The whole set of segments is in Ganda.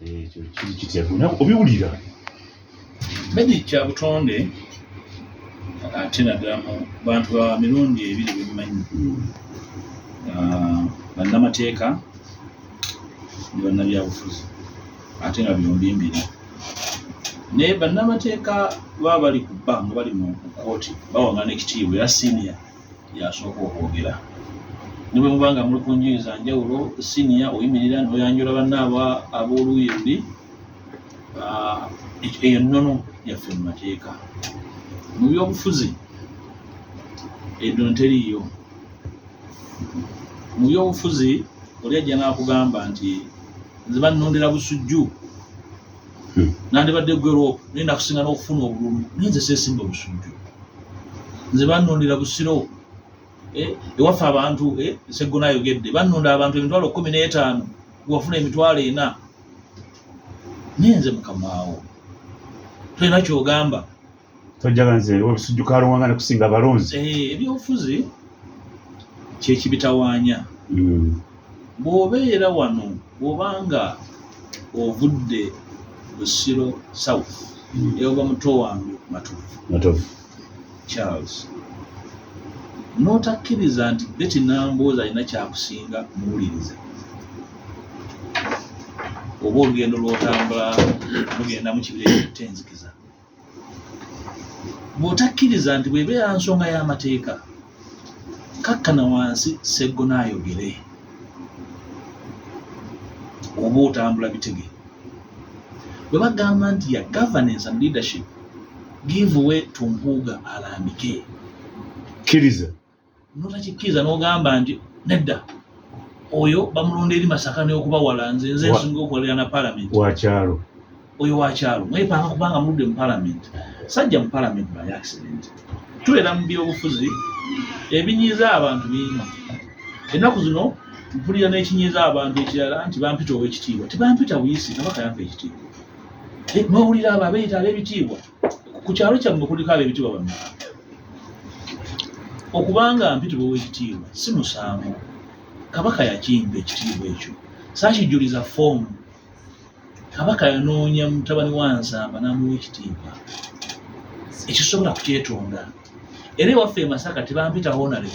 ekyo kiri kitya gona obiwulira bedi kya butonde ate naddala mu bantu ba mirundi ebiri bemumanyi hmm. ah, bannamateeka ne bannabyabufuzi ate nga byombi mbiri naye bannamateeka baba bali ku bba nga bali mu kkooti bawangana ekitiibwa era siniya yasooka okwogera ne bwe muba nga muli ku njuyi za njawulo siniya oyimirira n'oyanjula banna aba ab'oluuyi luli ah, eyo nnono yaffe mu mateeka mu byobufuzi ennono teriiyo mu byobufuzi oli ajja n'akugamba nti nze bannondera busujju hmm. nandibadde gwero naye nakusinga n'okufuna obululu naye nze sesimba busujju nze banondera busiro eh, ewaffe abantu eh, seggona ayogedde banonda abantu emitwalo kumi n'etaano wafuna emitwalo ena naye nze mukamaawo tolina kyogamba tojjaga nze ebisujju ka luwanga ne kusinga abalonzi eh, ebyobufuzi kyekibitawaanya hmm. bw'obeera wano bw'oba nga ovudde busiro south hmm. eoba muto wange matovu charles n'otakkiriza nti beti namboozi alina kyakusinga muwuliriza oba olugendo lwotambula lugenda mu kibira ekittenzikiza bw'otakkiriza nti bw'ebeera nsonga y'amateeka kakkana wansi seggona ayogere oba otambula bitege bwe bagamba nti ya governance and leadership give way to mpuuga alambike kkiriza notakikkiriza nogamba nti nedda oyo bamulonda eri masaka neokuba wala nze nze nsinga okukolera na palamenti wakyalo oyo wakyalo mwepanga kubanga muludde mu palamenti sajja mu palamenti by accident tubeera mu byobufuzi ebinyiiza abantu bingi ennaku zino mpulira n'ekinyiiza abantu ekirala nti bampita owekitiibwa tebampita buyisi kabaka yampa ekitiibwa eh, nowulira abo abeyita ab'ebitiibwa ku kyalo kyammwe kuliko ab'ebitiibwa bameka okubanga mpitibwa ow'ekitiibwa si musango kabaka yakimpa ekitiibwa ekyo saakijuliza foomu kabaka yanoonya mutabani wa nsamba n'amuwa ekitiibwa ekisobola kukyetonda era ewaffe e masaka tebampita honare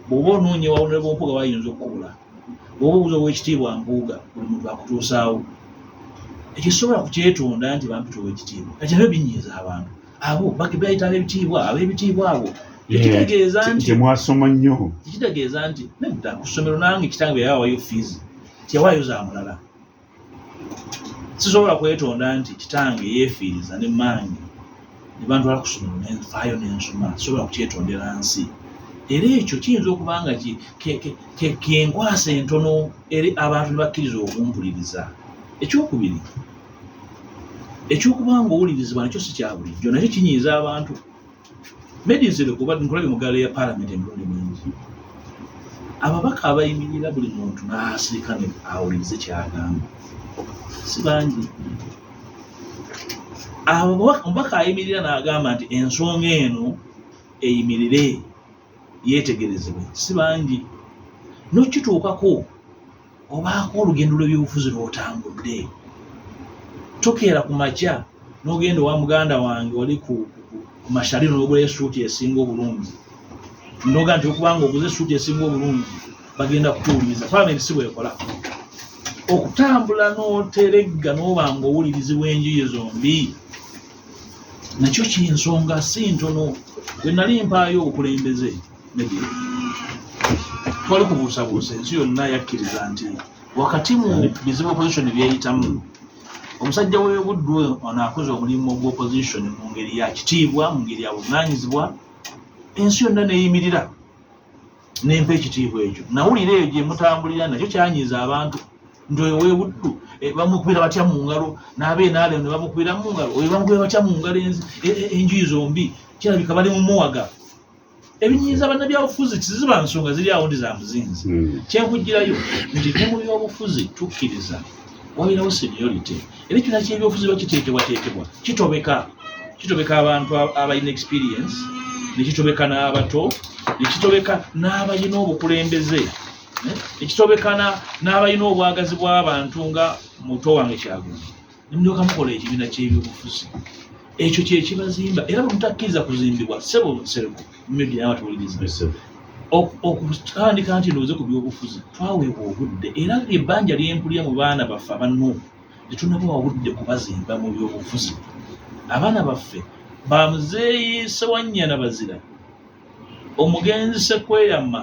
bw'oba onoonya wawonere bwompuga wayinza okukubula bwoba obuza owekitiibwa mpuuga buli muntu akutuusaawo ekyo sobola kukyetonda nti bantu tuwa ekitiibwa kati nabyo binyiiza abantu abo bakibayita abebitiibwa abebitiibwa abo ekitegeeza nti mwasoma nnyo ekitegeeza nti nedda ku ssomero nange kitange bwe yawawayo fiizi teyawaayo za mulala sisobola kwetonda nti kitange yeefiiriza ne mmange ne bantwala ku ssomero ne nfaayo ne nsoma sisobola kukyetondera nsi era ekyo kiyinza okuba nga kenkwasa entono eri abantu ne bakkiriza okumpuliriza ekyokubiri ekyokuba nga owulirizibwa nakyo si kya bulijjo nakyo kinyiiza abantu medizero kuba nkulabye mu gaala ya palamenti emirundi mingi ababaka abayimirira buli muntu n'asirika ne awulirize kyagamba si bangi omubaka ayimirira n'agamba nti ensonga eno eyimirire yeetegerezebwe si bangi nokituukako obaako olugendo lw'ebyobufuzi lw'otambudde tokeera ku makya n'ogenda owa muganda wange oli ku mashali n'ogula esuuti esinga obulungi noga nti okubanga oguze esuuti esinga obulungi bagenda kutuwuliriza palamenti si bwekola okutambula n'oteregga n'oba nga owulirizi bw'enjuyi zombi nakyo kinsonga si ntono bwe nali mpaayo obukulembeze twali kubuusabuusa ensi yonna yakkiriza nti wakati mu bizibu opposition byeyitamu omusajja w'ebuddu oyo ono akoze omulimu gwa opposition mu ngeri ya kitiibwa mu ngeri ya buvunaanyizibwa ensi yonna neeyimirira nempa ekitiibwa ekyo nawulira eyo gye mutambulira nakyo kyanyiiza abantu nti oyo w'ebuddu eh, bamukubira batya mu ngalo n'abeenaale ne bamukubira mu ngalo oyo bamukubira batya mu ngalo e, e, enjuyi zombi kirabika bali mu muwaga ebinyiiza bannabyabufuzi tiziba nsonga ziri awo ndi za muzinzi hmm. kyenkugirayo nti ne mu byobufuzi tukkiriza wabeerawo seniority era ekibiina kyebyobufuzi bakiteekebwateekebwa kitobeka kitobeka abantu abalina experience nekitobeka n'abato nekitobeka n'abalina obukulembeze eh, nekitobekana n'abalina obwagazi bw'abantu nga muto wange kyaguzi ne mulyoka mukola ekibiina ky'ebyobufuzi ekyo kyekibazimba era bwemutakkiriza kuzimbibwa sebo nsereko media nawe tuwuliriza okutandika nti ndowooze ku byobufuzi twaweebwa obudde era ebbanja lyempulira mu baana baffe abanno tetunabawa budde kubazimba mu byobufuzi abaana baffe bamuzeeyi sewanyana bazira omugenzi sekweyama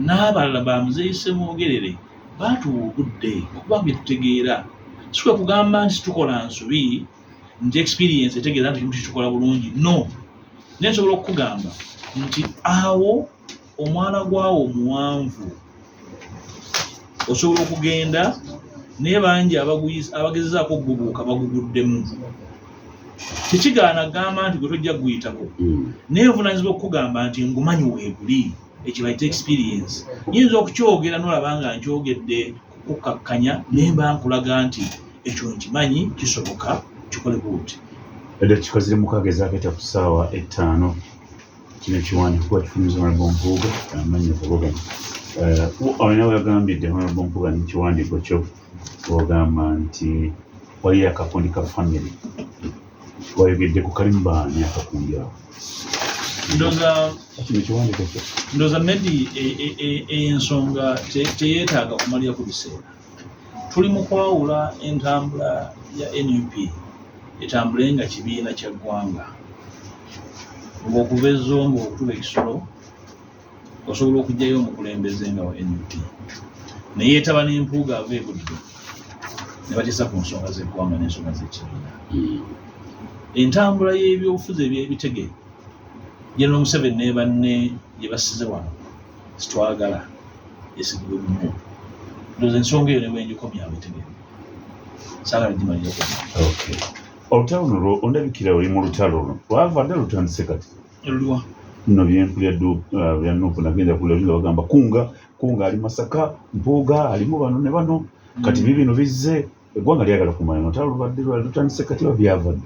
n'abalala ba muzeeyi Ssemwogerere baatuwa obudde okuba bye tutegeera si kwe kugamba nti tukola nsobi nti experience etegeeza nti kimu kitukola bulungi no naye nsobola okukugamba nti awo omwana gwawo omuwanvu osobola okugenda naye bangi abagezezaako okugubuuka baguguddemu tekigaana gamba nti gwe tojja kuguyitako hmm. naye nvunanyizibwa okukugamba nti ngumanyi weeguli ekibayita experience nyinza okukyogera nolaba nga nkyogedde kukkakkanya naye mba nkulaga nti ekyo nkimanyi kisoboka kikole buuti edda kikozi limukagezaako ekya ku ssaawa ettaano kino ekiwandiiko kuba kifumiza honorable mpuuga amanyi okuvuganya olina weyagambidde honorable mpuuga nekiwandiiko kyo ogamba nti waliyo akakundi ka family wayogedde ku kalimu baani akakundi awo ndoza maybe eyensonga e, e, e, teyetaaga kumalira ku biseera Tuli mu kwawula entambula ya nup etambule nga kibiina kya ggwanga. Ng'okuva e Zombo okutuba e Kisoro osobola okugyayo omukulembeze nga wa nup ne yeetaba n'empuuga ava e Buddu ne bateesa ku nsonga z'eggwanga n'ensonga z'ekibiina. Entambula y'ebyobufuzi eby'ebitege General Museveni ne banne gye bassize wano sitwagala esigulwe mumu ndoza ensonga eyo newenjikomya awetegere sagala gimalira okay olutalo luno ondabikira oli mu lutalo luno lwava dda lutandise kati luliwa no byenkulya uh, bya nupu nagenda kulya nga bagamba kunga kunga ali masaka mpuuga alimu bano ne bano kati mm. bibino bizze eggwanga lyagala kumanya notalo lubadde lutandise kati babyavadde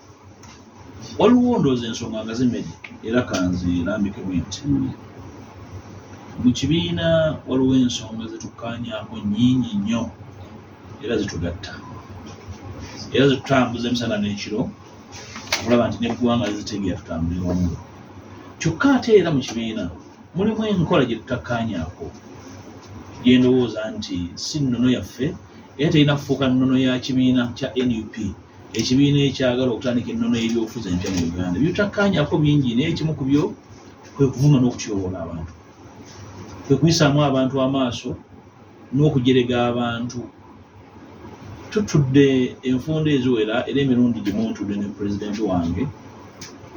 waliwo ndoozi ensonga nga zimedi era kanzi lambikemu nti hmm. mu kibiina waliwo ensonga zetukanyako nyingi nnyo era zitugatta era zetutambuza emisana n'ekiro okulaba nti neggwanga lizitegeera tutambulira wamu kyokka ate era mu kibiina mulimu enkola gye tutakanyako gyendowooza nti si nnono yaffe era terina kufuuka nnono ya kibiina kya nup ekibiina ekyagala okutandika ennono y'ebyobufuzi empya mu uganda byotakkaanyako bingi naye ekimu ku byo kwe kuvuma n'okutyoboola abantu kwe kuyisaamu abantu amaaso n'okujerega abantu tutudde enfunda eziwera era emirundi gimu ntudde ne pulezidenti wange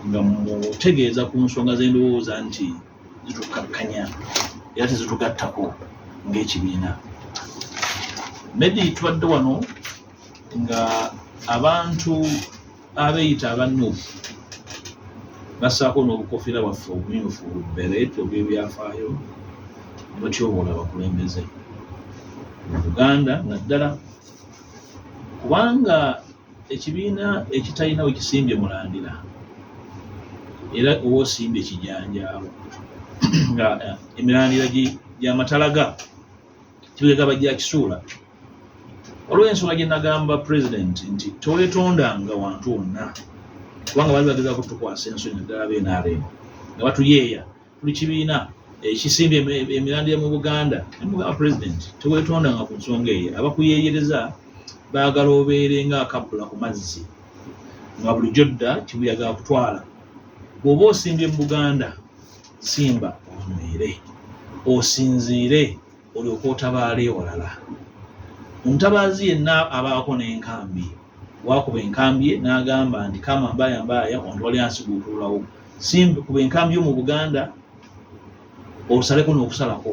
nga mutegeeza ku nsonga z'endowooza nti zitukkakkanya era tezitugattako ng'ekibiina medi tubadde wano nga abantu abeeyita abannuufu bassaako n'obukofiira bwaffe obumyufu beret obwebyafaayo batyoboola abakulembeze mu uganda naddala kubanga ekibiina ekitalina we kisimbye mulandira era oba osimbye kijanjaalo nga eh, emirandira gy'amatalaga kibegaba gya kisuula olw'ensonga gye nagamba pulezidenti nti tewetondanga wantu wonna kubanga bali bagezako tukwasa ensonyi naddala bnrm nga batuyeeya tuli kibiina ekisimba emirandira mu buganda nemugamba pulezidenti tewetondanga ku nsonga eyo abakuyeeyereza baagala obeere nga akabbula ku mazzi nga bulijjo dda kibuyaga kutwala bw'oba osimbye mu buganda simba onywere osinziire olyoka otabaala ewalala omutabaazi yenna abaako n'enkambi wakuba enkambi ye n'agamba nti kama mbaaya mbaaya wantu wali ansiguukululawo simbi kuba enkambi yo mu buganda osaleko n'okusalako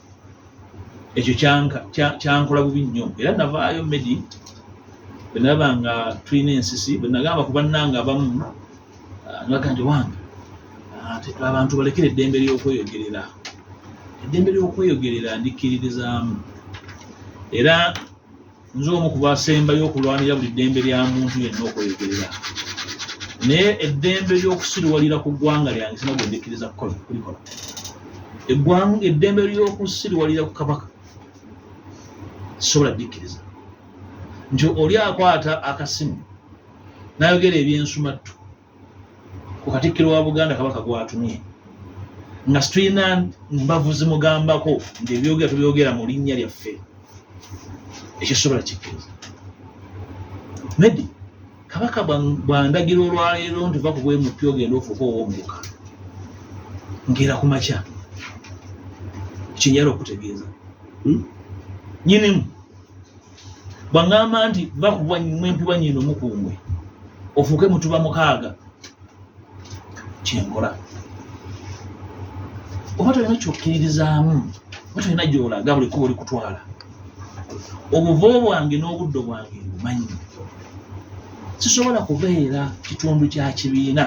ekyo kyankola bubi nnyo era navaayo medi bwenalaba nga tulina ensisi bwenagamba ku bannanga abamu ah, naga nti wange ah, abantu balekera eddembe ly'okweyogerera eddembe ly'okweyogerera ndikkiririzaamu era nze omu ku basembayo okulwanira buli ddembe lya muntu yenna okweyogerera naye eddembe ly'okusiriwalira ku ggwanga lyange sina gwe ndikkiriza kukola kulikola eggwanga eddembe ly'okusiriwalira ku kabaka sisobola dikkiriza nti oli akwata akasimu n'ayogera ebyensumattu ku katikkiro wa buganda kabaka gwatumye nga situlina mbavu zimugambako nti ebyogera tubyogera mu linnya lyaffe ekisobola kikkiriza nedi kabaka bwandagira olwaleero nti va kubwemupi ogenda ofuuka owomuka ngeera ku makya kinyala okutegeeza hmm? nyinimu bwaŋŋamba nti va ku mwempi wa nyindo mukungwe ofuuke mutuba mukaaga kyenkola oba tolina kyokkiririzaamu oba tolina gyolaga buli kuba oli kutwala obuvo bwange n'obuddo bwange mbumanyi sisobola kubeera kitundu kya kibiina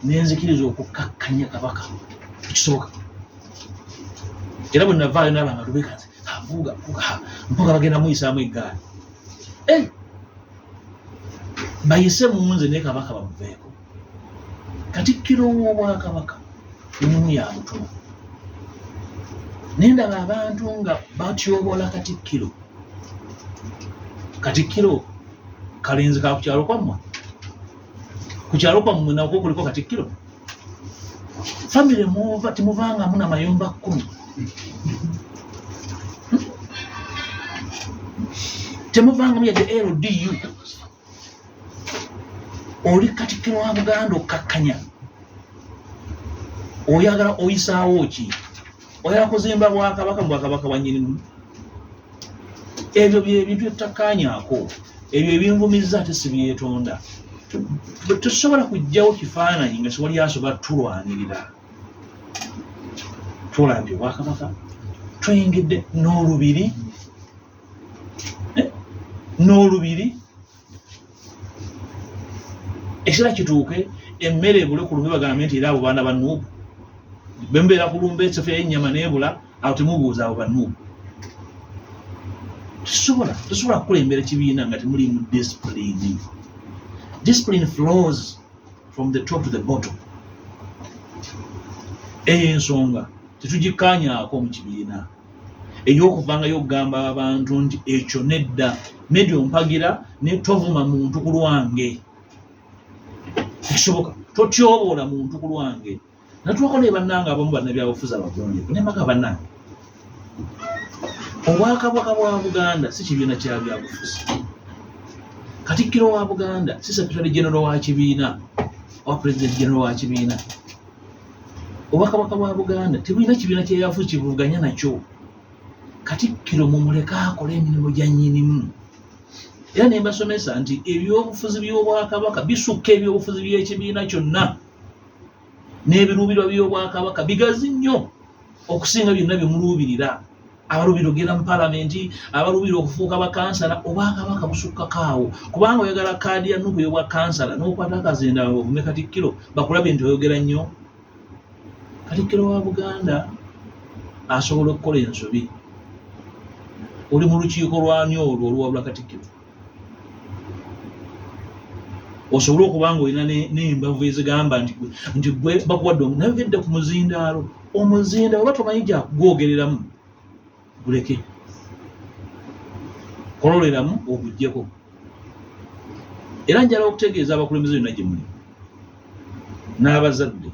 nenzikiriza okukkakkanya kabaka ekisoboka era bwe navaayo naba nga lubekanze avuga mpaka bagenda muyisaamu eggaali eh! bayise munze naye kabaka bamuveeko katikkiro w'obwakabaka emimu ya mutuno naye ndaba abantu nga batyobola katikkiro katikkiro kalenzi kakukyalo kwammwe kukyalo kwammwe nakwo kuliko katikkiro famire muva temuvangamu na mayumba kkumi hmm? temuvangamu yadde ldu oli katikiro wa buganda okkakkanya oyagala oyisaawo ki oyala kuzimba bwakabaka mu bwakabaka bwa nyinimu ebyo byebintu etutakanyako ebyo ebinvumizza ate sibyetonda tusobola kujjawo kifaananyi nga siwali asobola tulwanirira tulambye obwakabaka tuyingidde n'olubiri eh? n'olubiri ekiseera kituuke emmere ebule ku lumbe bagambe nti era abo baana ba nuubu bembeera ku lumbe esofa y'ennyama n'ebula awo temubuuza abo ba nuubu tusobola tusobola kukulembera ekibiina nga temulimu disipulini disipulini flows from the top to the bottom eyo ensonga tetugikkaanyaako mu kibiina ey'okuvangayo okugamba abantu nti ekyo nedda nedi ompagira ne tovuma muntu ku lwange ekisoboka totyoboola muntu ku lwange natwako naye bannange abamu bannabyabufuzi abagonjevu naye maka bannange obwakabaka bwa buganda si kibiina kya byabufuzi katikkiro wa buganda si sekretary genero wa kibiina owa president genero wa kibiina obwakabaka bwa buganda tebulina kibiina kyeyafu kibuvuganya nakyo katikkiro mumuleke akole emirimu gya nyinimu era ne mbasomesa nti ebyobufuzi by'obwakabaka bisukka ebyobufuzi by'ekibiina kyonna n'ebiruubirwa by'obwakabaka bigazi nnyo okusinga byonna bye muluubirira abalubira okugenda mu palamenti abalubira okufuuka bakansala obwakabaka busukkako awo kubanga oyagala kaadi ya nuku yobwa kansala nokwata akazenda ovume katikkiro bakulabye nti oyogera nnyo katikkiro wa buganda asobola okukola ensobi oli mu lukiiko lwani olwo oluwabula katikkiro osobole okuba nga olina n'embavu ezigamba nti nti gwe bakuwadde naye ogedde ku muzindaalo omuzinda oba tomanyi gyakugwogereramu guleke kololeramu ogugyeko era njala okutegeeza abakulembeze byonna gye muli n'abazadde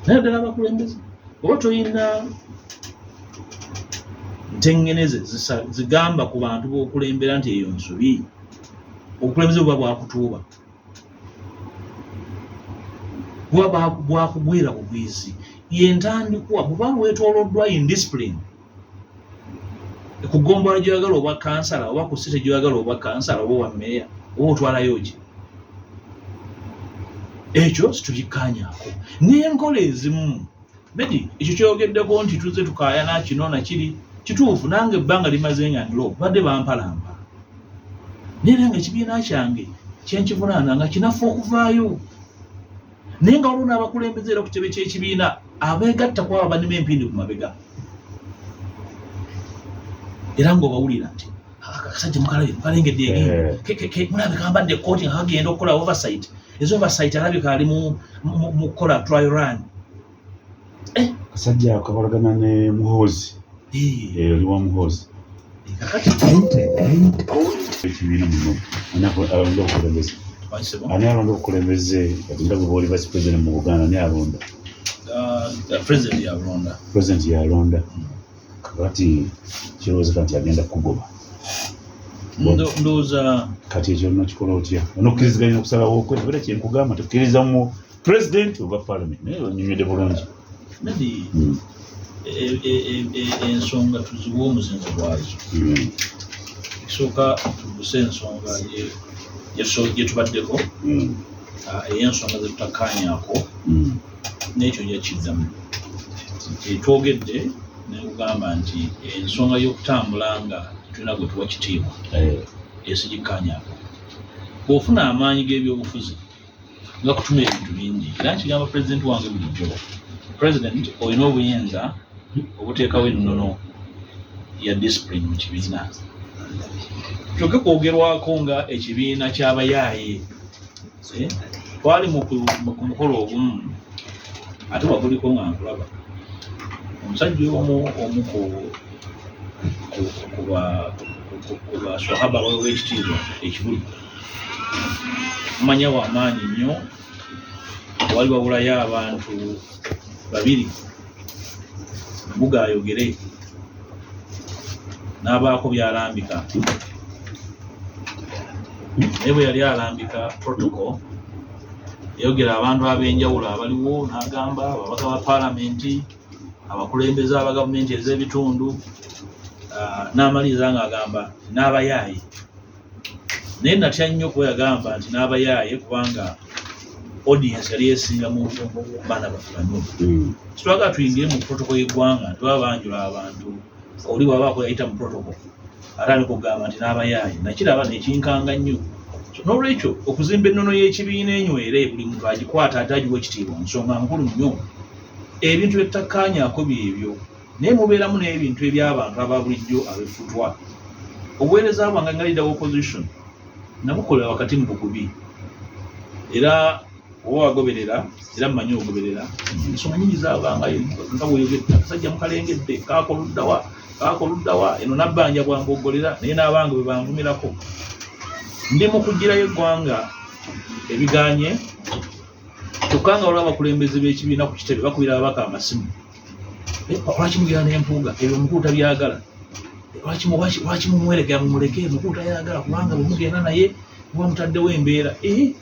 naye ddala abakulembeze oba tolina ntengeneze zigamba ku bantu bokulembera nti eyo nsobi obukulembeze buba bwakutuuba buba bwakugwira bugwizi yentandikwa buba lwetoloddwa indiscipline ku ggombolola gyoyagala obwa kansala oba ku site gyoyagala obwa kansala oba owa meeya oba otwalayo ki ekyo situbikkaanyaako n'enkola ezimu medi ekyo kyogeddeko nti tuzze tukaayana kino nakiri kituufu nange ebbanga limaze nga ndilo badde bampalampa naye era nga ekibiina kyange kyenkivunaana nga kinafu okuvaayo naye nga waliwo n'abakulembeze era ku kitebe ky'ekibiina abeegatta ku abo abanima empindi ku mabega era ng'obawulira nti akasajja mukalabye mukalengedde egende eh. mulabika ambadde ekkooti nga kagenda okukola oversight ezo oversight alabika ali mu kukola trial run kasajja eh. kakolagana ne muhoozi eh. Eh, oli wa muhoozi ekibiina muno ani alonda obukulembeze ani alonda obukulembeze kati ndaba booli vice president mu buganda ani alonda uh, president yalonda president yalonda hmm. kakati kirowozeka nti agenda kugoba ndowooza kati ekyo nakikola otya onokkiriziganya okusalawo okwe era kyenkugamba tukkirizamu president oba parliament naye onyumide bulungi nadi hmm. e, e, e, ensonga tuziwa omuzinzi gwazo hmm. ekisooka tuguse ensonga gyetubaddeko hmm. ah, eyensonga zetutakanyako nekyo yakiddamu etwogedde nekugamba nti ensonga yokutambula nga tulina gwe tuwa kitiibwa eh. esigikanyako bwofuna amaanyi g'ebyobufuzi nga kutuma ebintu bingi era nkigamba pulezidenti wange bulijjo pulezidenti olina obuyinza obuteekawo ennono ya disipulini mu kibiina kyoke kwogerwako nga ekibiina kyabayaaye eh, twali ku mukolo ogumu ate waguliko nga nkulaba omusajja omu omu ku baswahaba wekitiibwa ekibuli manya wa maanyi nnyo wali wabulayo abantu babiri mbuga ayogere n'abaako byalambika naye bwe yali alambika protocol yayogera abantu ab'enjawulo abaliwo n'agamba ababaka ba paalamenti abakulembeze aba gavumenti ez'ebitundu ah, n'amaliriza ng'agamba n'abayaaye naye natya nnyo kuba yagamba nti n'abayaaye kubanga audience yali esinga mu baana bafulanu hmm. kitwagala tuyingire mu protoko y'eggwanga tebaba banjula abantu oli wabaako yayita mu protoko ate ani kugamba nti n'abayaaye nakiraba nekinkanga nnyo n'olwekyo okuzimba ennono y'ekibiina enywere buli muntu agikwata ate agiwa ekitiibwa nsonga nkulu nnyo ebintu byettakkaanyako byebyo naye mubeeramu n'ebintu eby'abantu aba bulijjo abefutwa obuweereza bwange nga leader opposition nabukolera wakati mu bugubi era oba wagoberera era mumanyi ogoberera ensonga nyingi zabangayo nga bweyogedde akasajja mukalengedde kakoluddawa kakoluddawa eno nabbanja bwambogolera naye n'abange bwe banvumirako ndi mu kugirayo eggwanga ebiganye kyokka nga waliwo abakulembeze b'ekibiina ku kitebe bakubira ababaka amasimu eh, lwaki mugera nempuuga ebyo omukulu tabyagala lwaki mumweregera mumuleke omukulu tayagala kubanga bwemugenda naye muba mutaddewo embeera eh,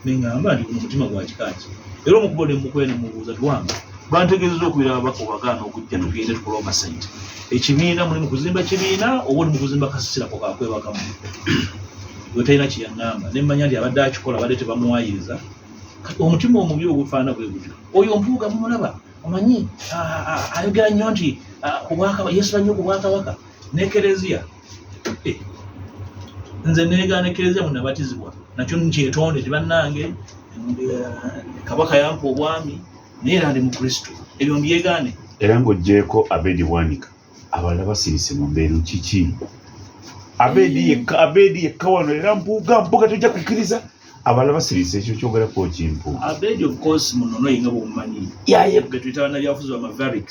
neŋamba nti guno mutima gwa kikaaki era omukubo nemukuba nemubuuza tiwamba bantegeezeza okubira ababaka obagaana okujja tugende tukole omasente ekibiina muli mukuzimba kibiina oba oli mukuzimba kasisirako kakwebakamu wetalina kyeyaŋamba nemmanya nti abadde akikola badde tebamuwayiriza omutima omubi ogufaana bwe gutyo oyo mpuuga mumulaba omanyi ayogera nnyo nti yesu bannyo ku bwakabaka ne kereziya eh, nze negaana kereziya munabatizibwa nakyo nkyetonde ti bannange kabaka yampa obwami naye era ndi mukristo ebyo mbyegaane era ng'oggyeeko abedi wanika abalala basirise mu mbeeru kiki abedi yekka abedi yekka wano era mpuuga mpuuga tojja kukkiriza abala basirise ekyo kyogera ku kimpu abejo of course muno no inga bomanyi ya ye betu itana ya fuzo ma varix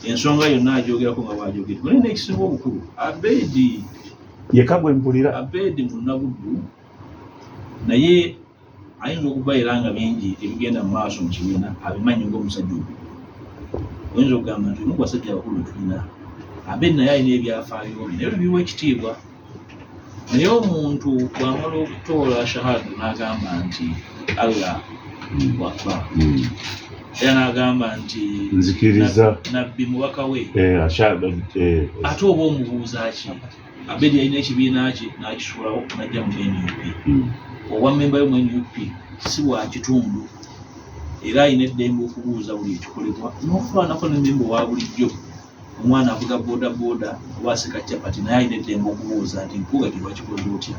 ensonga yo na jogera ko ngaba jogera mune next singo bukuru abedi ye kagwe mpulira abedi muno gudu na ye ayi no kubayira nga bingi ebigenda maso mu kibina abimanyi ngo musajju wenzo gamba nti nuko sajja bakulu tulina abedi na yayi ne byafayo ne biwe kitibwa naye omuntu bwamala okutoola shahadu n'agamba nti allah wakba hmm. era n'agamba nti nzikiriza nabbi mubaka we eh, eh, ate oba omubuuza ki abedi yalina ekibiina kye n'akisulawo najja mu nup hmm. obwa mmemba yo mu nup si bwa kitundu era alina eddembe okubuuza buli ekikolebwa n'okufaanako ne mmemba owa bulijjo omwana avuga bodaboda oba asika capati naye alina eddembe okubuuza nti nkuga kino wakikoze otya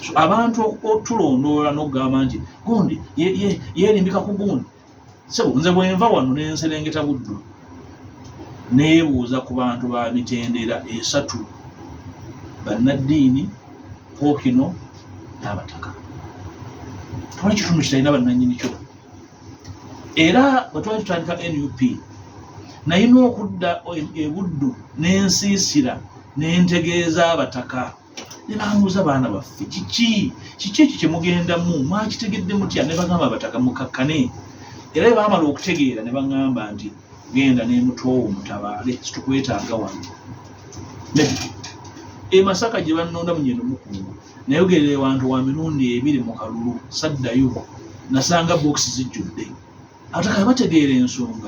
so abantu otulondoola n'okugamba nti gundi yeerimbika ku gundi sebo nze bwenva wano nenserengeta buddu neebuuza ku bantu ba mitendera esatu bannaddiini pookino n'abataka tewali kitundu kitalina bannannyini kyo era bwe twali tutandika nup nayina okudda ebuddu n'ensiisira n'entegeeza abataka ne bambuuza baana baffe kiki kiki ekyo kye mugendamu mwakitegedde mutya ne bagamba abataka mukakkane era bwe baamala okutegeera ne bagamba nti genda n'emutoowo mutabaale situkwetaaga wano e masaka gye bannondamu nyeno mukungu nayogerera ewantu wa mirundi ebiri mu kalulu saddayo nasanga bokisi zijjudde abataka bategeera ensonga